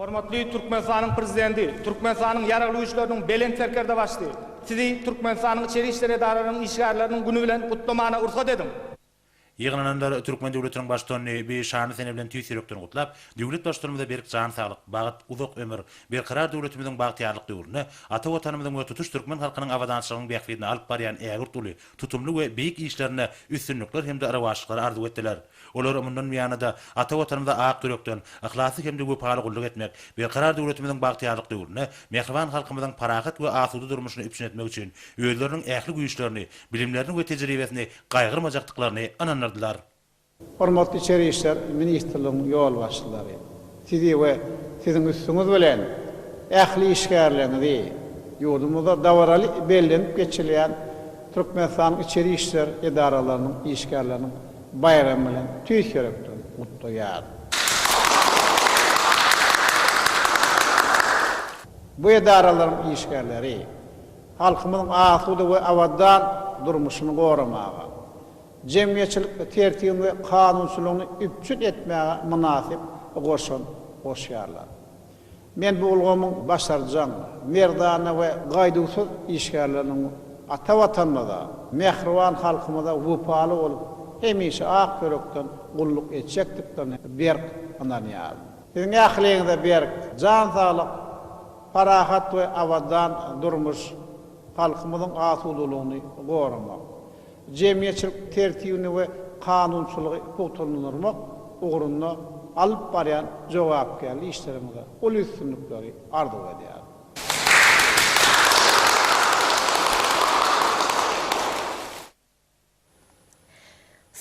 Hormatly Türkmenistanyň Prezidenti, Türkmenistanyň Ýaragly Güýçleriniň Belent Serkerdebaşysy, Sizi Türkmenistanyň Içeri işler edaralarynyň işgärleriniň güni bilen gutlamana rugsat ediň! Ýygnananlar türkmen döwletiniň Baştutanyny bi şanly sene bilen tüýs ýürekden gutlap, döwlet Baştutanymyza berk jan saglyk, bagt, uzak ömür, berkarar döwletimiziň bagtyýarlyk döwründe ata Watanymyzyň we tutuş türkmen halkynyň abadançylygynyň bähbidine alyp barýan ägirt uly, tutumly we beýik işlerinde üstünlikler hem-de rowaçlyklar arzuw etdiler. Olar mundan buýana-da ata Watanymyza ak ýürekden, yhlasly hem-de wepaly gulluk etmek, berkarar döwletimiziň bagtyýarlyk döwründe mähriban halkymyzyň parahat we asuda durmuşyny üpjün etmek üçin özleriniň ähli güýçlerini, bilimlerini we tejribesini gaýgyrmajakdyklaryny ynandyrdylar. Hormatly Içeri işler ministrligiň ýolbaşçylary, sizi we siziň üstüňiz bilen ähli işgärleriňizi ýurdumyzda dabaraly bellenip geçirilýän Türkmenistanyň içeri işler edaralarynyň işgärleriniň baýramy bilen tüýs ýürekden gutlaýar. Bu edaralaryň işgärleri, halkymyzyň asuda we abadan durmuşyny goramaga, jemgyýetçilik tertibiň we kanunçylygyny üpjün etmäge mynasyp goşant goşýarlar. Men bu ulgamyň başarjaň, merdana we gaýduwsyz işgärleriniň ata Watanymyza, mähriban halkymyza wepaly bolup, hemişe ak ýürekden gulluk etjekdiklerine berk ynanýaryn. Siziň ähliňize berk jan saglyk! Parahat we abadan durmuş, halkymyzyň asudalygyny goramak, jemgyýetçilik tertibini we kanunçylygy pugtalandyrmak ugrunda alyp barýan jogapkärli işleriňize uly üstünlikleri arzuw edýärin.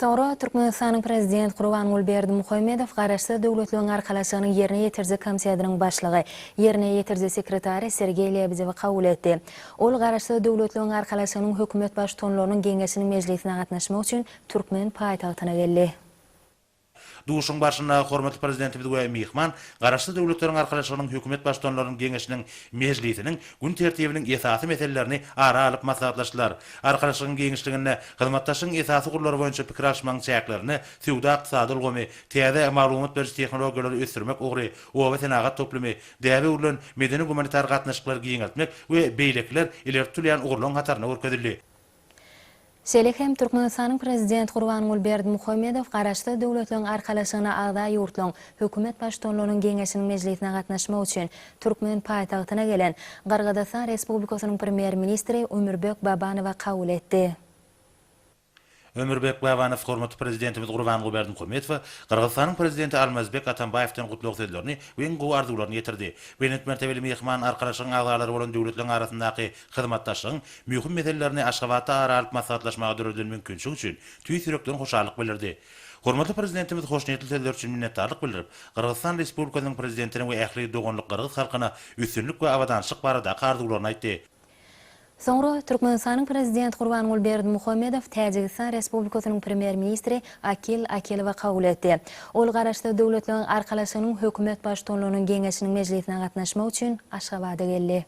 Soňra Türkmenistanyň Prezident Gurbanguly Berdimuhamedow Garaşsyz Döwletleriň Arkalaşygynyň Ýerine ýetiriji komitetiniň başlygy, Ýerine ýetiriji sekretary Sergeý Lebedewi kabul etdi. Ol Garaşsyz Döwletleriň Arkalaşygynyň hökümet baştutanlarynyň geňeşiniň mejlisine gatnaşmak üçin türkmen paýtagtyna geldi. Duşuşygyň barşynda hormatly Prezidentimiz we myhman Garaşsyz Döwletleriň Arkalaşygynyň Hökümet Baştutanlarynyň Geňeşiniň mejlisiniň gün tertibiniň esasy meselelerini ara alyp maslahatlaşdylar. Arkalaşygyň giňişliginde hyzmatdaşlygyň esasy ugurlary boýunça pikir alyşmagyň çäklerinde söwda-ykdysady ulgamy, täze maglumat beriş tehnologiýalary ösdürmek ugry, obasenagat toplumy, däbe öwrülen medeni-gumanitar gatnaşyklary giňeltmek we beýlekiler ileri tutulýan ugurlaryň hatarynda görkezildi. Şeýle hem Türkmenistanyň Prezident Gurbanguly Berdimuhamedow Garaşsyz Döwletleriň Arkalaşygyna agza ýurtlaryň Hökümet Baştutanlarynyň geňeşiniň mejlisine gatnaşmak üçin türkmen paýtagtyna gelen Gyrgyzystan Respublikasynyň Premýer-ministri Ömürbek Babanowy kabul etdi. Ömürbek Babanow hormatly Prezidentimiz Gurbanguly Berdimuhamedowa Gyrgyzystanyň Prezidenti Almazbek Atambaýewden gutlag sözlerini we iň gowy arzuwlaryny ýetirdi. Belent mertebeli myhman Arkalaşygyň agzalary bolan döwletleriň arasyndaky Hyzmatdaşlygyň möhüm meselelerini Aşgabatda ara alyp maslahatlaşmaga döredilen mümkinçilik üçin tüýs ýürekden hoşallyk bildirdi. Hormatly Prezidentimiz hoşniýetli sözleri üçin minnetdarlyk bildirip, Gyrgyzystan Respublikasynyň Prezidentine we ähli doganlyk gyrgyz halkyna üstünlik we abadançylyk baradaky arzuwlaryny aýtdy. Soňra Türkmenistanyň Prezidenti Gurbanguly Berdimuhamedow Täjigistan Respublikasynyň Premýer-ministri Akil Akilowa kabul etdi. Ol Garaşsyz Döwletleriň Arkalaşygynyň Hökümet Baştutanlarynyň geňeşiniň mejlisine gatnaşmak üçin Aşgabada geldi.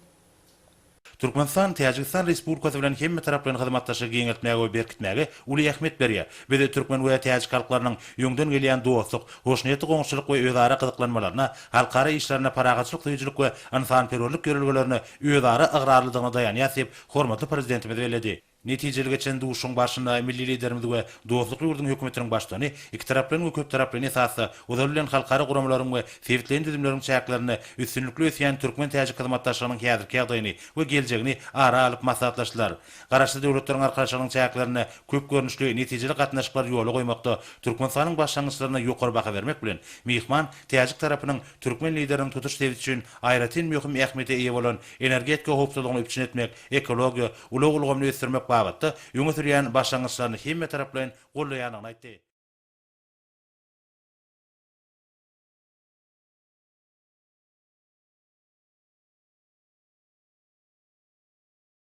Türkmenistan Täjigistan Respublikasy bilen hemmetaraplaýyn hyzmatdaşlygy giňeltmäge we berkitmäge uly ähmiýet berýär. Biz türkmen we täjik halklarynyň öňden gelýän dostluk, hoşniýetli goňşuçylyk we özara gyzyklanmalaryna, halkara işlerine parahatçylyk söýüjilik we ynsanperwerlik ýörelgelerine özara ygrarlydygyna daýanýarys diýip, hormatly Prezidentimiz belledi. Netijeli geçen duşuşygyň barşynda milli Liderimiz we dostluk ýurduň Hökümetiniň Baştutany ikitaraplaýyn we köptaraplaýyn esasda ozal bilen halkara guramalaryň we sebitleýin düzümleriň çäklerinde üstünlikli ösýän türkmen-täjik hyzmatdaşlygynyň häzirki ýagdaýyny we geljegini ara alyp maslahatlaşdylar. Garaşsyz Döwletleriň Arkalaşygynyň çäklerinde köp görnüşli, netijeli gatnaşyklary ýola goýmakda Türkmenistanyň başlangyçlaryna ýokary baha bermek bilen, myhman täjik tarapynyň türkmen Lideriniň tutuş sebit üçin aýratyn möhüm ähmiýete eýe bolan energetika howpsuzlygyny üpjün etmek, ekologiýa, ulag ulgamyny ösdürmek babatda öňe sürýän başlangyçlaryny hemmetaraplaýyn goldaýandygyny aýtdy.